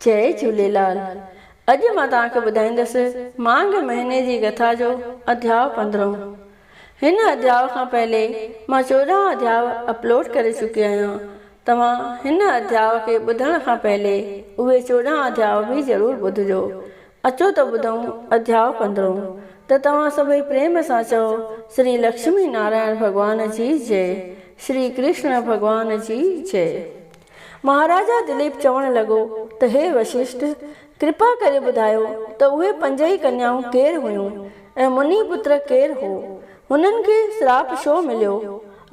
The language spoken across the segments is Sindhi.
جئي جهوليلال اڄ مان توهان کي ٻڌائيندس مانگهه مهيني جي ڪٿا جو اڌياء پندرهون هن اڌياء کان پهلي مان چوڏهن اڌياء اپلوڊ ڪري چڪي آهيان توهان هن اڌياء کي ٻڌڻ کان پهلي اهي چوڏهن اڌياء به ضرور ٻڌجو اچو ته ٻڌون اڌياء پندرهون ته توهان سڀئي پريم سان چئو شري لڪشمي نارائڻ ڀڳوان جي جئي شري ڪرشڻ ڀڳوان جي جئي. مهاراجا دليپ چوڻ لڳو ته هي وششٺ! ڪرپا ڪري ٻڌايو ته اهي پنج ئي ڪنيائون ڪير هيون ۽ مني پتر ڪير هو؟ هنن کي سراپ شو مليو؟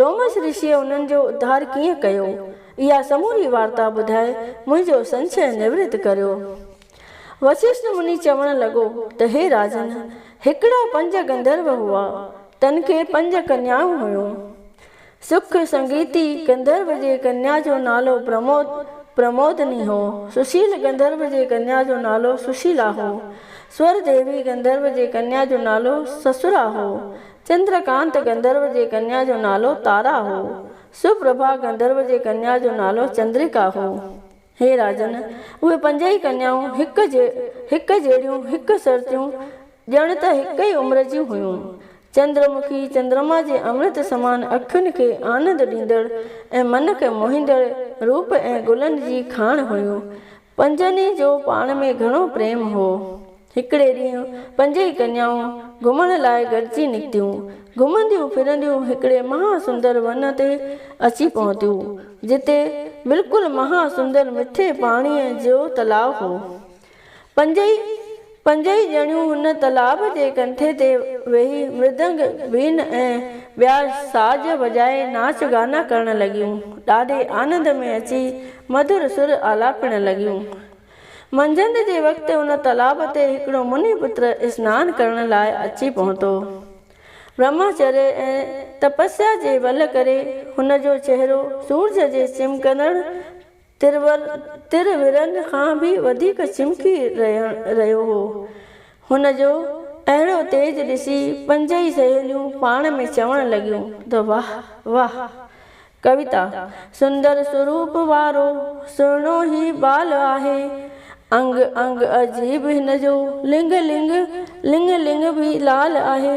لومس رشيء انهن جو اڌار ڪيئن ڪيو؟ اها سموري وارتا ٻڌائي منهنجو سنشيه نورت ڪريو. وششٺ مني چوڻ لڳو ته هي راجن! هڪڙا پنج گنڌرو هئا، تن کي پنج ڪنيائون هيون. سک سنگيتي گنڌرو جي ڪنيا جو نالو پرمود، پرمودني، هو. سشيل گنڌرو جي ڪنيا جو نالو سشيلا هو. سور ديوي گنڌرو جي ڪنيا جو نالو سسرا هو. چندر ڪانت گنڌرو جي ڪنيا جو نالو تارا هو. سوپرڀا گنڌرو جي ڪنيا جو نالو چندريڪا هو. هي راجن! اهي پنج ئي ڪنيائون هڪ جهڙيون، هڪ سرتيون، ڄڻ ته هڪ ئي عمر جون هيون. چندر مکي چندرما جي امرت سمان اکين کي آنند ڏيندڙ ۽ من کي موهيندڙ روپ ۽ گلن جي کاڻ هيون. پنجن ئي جو پاڻ ۾ گهڻو پريم هو. هڪڙي ڏينهن پنجئي ڪنيائون گهمڻ لاء گڏجي نڪتيون. گهمنديون ڦرنديون هڪڙي مها سندر ون تي اچي پهتيون، جتي بلڪل مها سندر مٺي پاڻيء جو تلاء هو. پنج ئي پنج ئي ڄڻيون هن تالاب جي ڪنٺي تي ويهي مردنگ، وين ۽ ٻيا ساز وڄائي ناچ گانا ڪرڻ لڳيون. ڏاڍي آنند ۾ اچي مڌر سر آلاپڻ لڳيون. منجهند جي وقت ان تالاب تي هڪڙو مني پٽ اسنان ڪرڻ لاء اچي پهتو. برهماچريه ۽ تپسيا جي ٻل ڪري هن جو چهرو سورج جي چمڪندڙ ترور تر ورن کان به وڌيڪ چمڪي رهيو هو. هن جو اهڙو تيج ڏسي پنج ئي سهيليون پاڻ ۾ چوڻ لڳيون ته واه واه ڪويتا سندر سوروپ وارو سهڻو هي ٻال آهي. انگ انگ عجيب هن جو لنگ لنگ لڱ لڱ به لال آهي.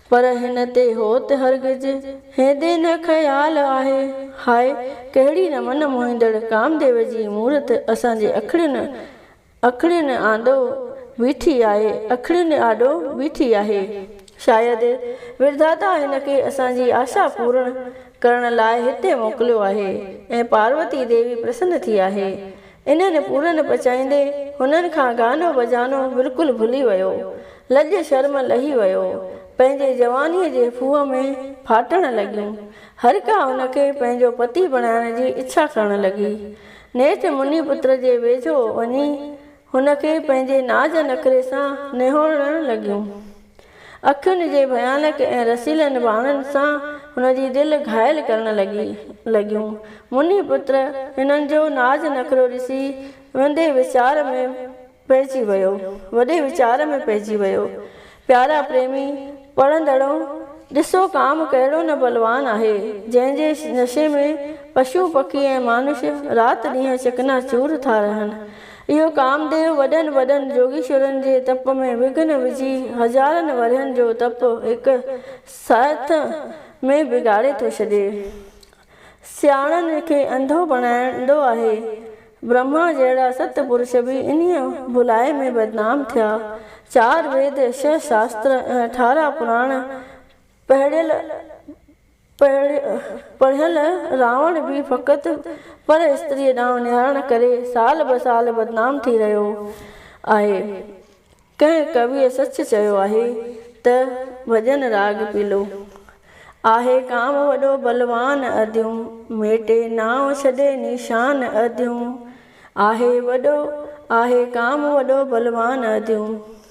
پر هن تي هو ته هرگز هيندي نه خيال آهي. هاء ڪهڙي نه من موهيندڙ ڪامديو جي مورت اسان جي اکڙين اکڙين آندو بيٺي آهي اکڙين آڏو بيٺي آهي. شايد وڌاتا هن کي اسان جي آشا پورڻ ڪرڻ لاء هتي موڪليو آهي ۽ پاروتي ديوي پرسن ٿي آهي. انهن کي پورن پچائيندي هنن کان گانو بجانو بلڪل ڀلي ويو. لڄ شرم لهي ويو. پنهنجي جوانيء جي ڦوهه ۾ ڦاٽڻ لڳيون. هرڪا ان کي پنهنجو پتي بڻائڻ جي اڇا ڪرڻ لڳي. نيٺ مني پتر جي ويجهو وڃي هن کي پنهنجي ناز نخري سان نهوڙڻ لڳيون. اکين جي ڀيانڪ ۽ رسيلن ٻانهن سان هن جي دل گهائل ڪرڻ لڳي لڳيون. منهي پٽ هنن جو ناز نخرو ڏسي وندي ويچار ۾ پئجي ويو وڏي ويچار ۾ پئجي ويو. پيارا پريمي پڙهندڙو! ڏسو ڪام ڪهڙو نه بلوان آهي، جنهن جي نشي ۾ پشو پکي ۽ مانوش رات ڏينهن چڪنا چور ٿا رهن. اهو ڪامديو وڏن وڏن جوڳيشورن جي تپ ۾ وگهن وجهي هزارن ورهين جو تپ هڪ ساعت ۾ بگاڙي ٿو ڇڏي. سياڻن کي انڌو بڻائيندو آهي. برهما جهڙا ست پرش به انهيء ڀلائي ۾ بدنام ٿيا. چار ويد، ڇهه شاستر ۽ اٺارهن پراڻ پهڙيل پڙهيل راوڻ به فقط پر استريء ڏانهن نهارڻ ڪري سال به سال بدنام ٿي رهيو آهي. ڪنهن ڪويء سچ چيو آهي ته ڀڄن راڳ پيلو آهي ڪام وڏو بلوان اديون ميٽي نانء ڇڏي نيشان اديون آهي وڏو آهي ڪام وڏو بلوان اديون.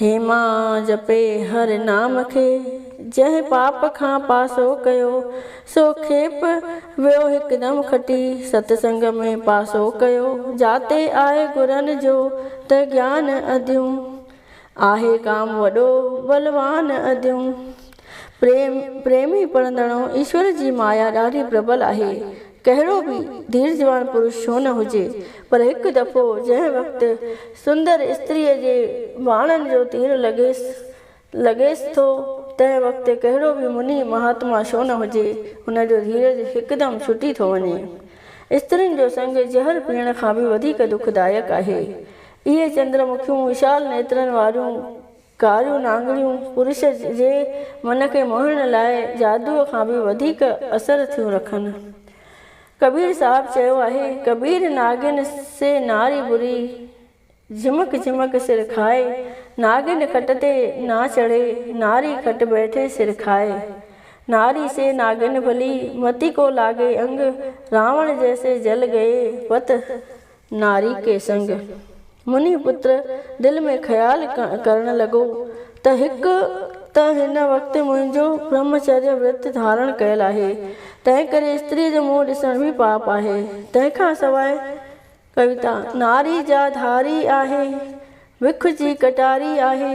هيما جپي هر نام کي، جنهن پاپ کان پاسو ڪيو، سو کيپ ويو هڪدم کٽي، ست سنگ ۾ پاسو ڪيو، جاتي آهي گرن جو ته گيان اديون، آهي ڪام وڏو بلوان اديون. پريم، پريمي پڙهندڙو، ايشور جي مايا ڏاڍي پربل آهي. ڪهڙو به ڌيرجوان پرش ڇو نه هجي، پر هڪ دفعو جنهن وقت سندر استريء جي واڻن جو تير لڳيس لڳيس ٿو، تنهن وقت ڪهڙو به مني مهاتما ڇو نه هجي، هن جو ڌيرج هڪدم ڇٽي ٿو وڃي. استرين جو سڱ زهر پيئڻ کان به وڌيڪ دکدائڪ آهي. اهي چندرمکيون، وشال نيترن واريون ڪاريون نانگريون پرش جي من کي موهڻ لاء جادوء کان به وڌيڪ اثر ٿيون رکن. ڪبير صاحب چيو آهي، ڪبير ناگن سي ناري بري، جهمڪ جهمڪ سر کائي، ناگن کٽ تي نا چڙهي، ناري کٽ بيٺي سر کائي. ناري سي ناگن ڀلي، متي ڪو لاڳي انگ، راوڻ جيسي جل ڳئي پت، ناري ڪيسنگ منهي پتر دل ۾ خيال ڪرڻ لڳو ته هڪ ته هن وقت منهنجو برهمچريه ورت ڌارڻ ڪيل آهي، تنهنڪري استريء جو منهن ڏسڻ به پاپ آهي. تنهن کان سواء ڪويتا ناري جا ڌاري آهي، وک جي ڪٽاري آهي.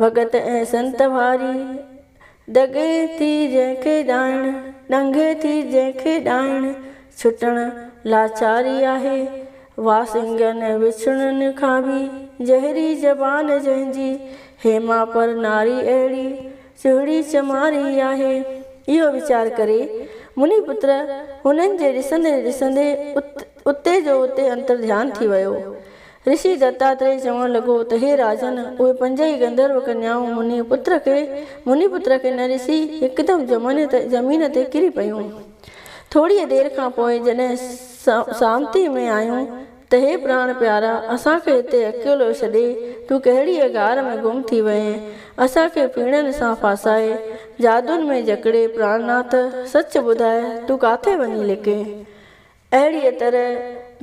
ڀڳت ۽ سنت واري دڳي ٿي جنهن کي ڏائڻ، ڏنگي ٿي جنهن کي ڏائڻ، ڇٽڻ لاچاري آهي. واسنگن ۽ وڇڙن کان به جهري زبان جنهن جي، هيما پر ناري اهڙي چهڙي چماري آهي. اهو ويچار ڪري، مني پتر هنن جي ڏسندي ڏسندي ات اتي جو اتي انتر ڌيان ٿي ويو. رشي دتاتريء چوڻ لڳو ته هي راجن، اهي پنج ئي گنڌرو ڪنيائون منهي پتر کي، منهي پتر کي نه ڏسي هڪدم جمن تي، زمين تي ڪري پيون. ٿوريء دير کان پوء جڏهن سامتيء ۾ آيون ته هي پراڻ پيارا، اسان کي هتي اڪيلو ڇڏي، تون ڪهڙيء غار ۾ گم ٿي وئين؟ اسان کي ڦيڻن سان ڦاسائي، جادون ۾ جڪڙي پراڻناٿ، سچ ٻڌاء، تون ڪاٿي وڃي لڪين؟ اهڙيء طرح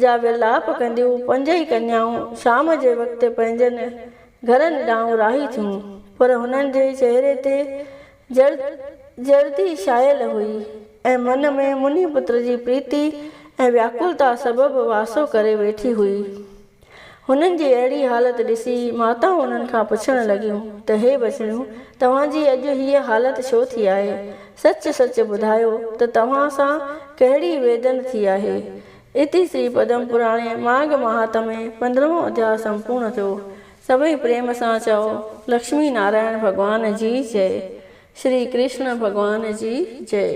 جا ورلاپ ڪنديون پنج ئي ڪنيائون شام جي وقت پنهنجن گهرن ڏانهن راهي ٿيون، پر هنن جي چهري تي جرد جردي ڇانيل هئي ۽ من ۾ منهي پٽ جي پريتي ۽ وياڪلتا سبب واسو ڪري ويٺي هئي. هنن جي اهڙي حالت ڏسي ماتائون هنن کان پڇڻ لڳيون ته هي ٻچڙيون توهان جي اڄ هيء حالت ڇو ٿي آهي؟ سچ سچ ٻڌايو ته توهان سان ڪهڙي ويڌن ٿي آهي؟ اتي سري پدم پراڻي ماڳ مهاتمي پندرهون اڌيا سمپورڻ ٿيو. سڀئي پريم سان چئو، لڪشمي نارائڻ ڀڳوان جي جئي. شري ڪرشڻ ڀڳوان جي جئي.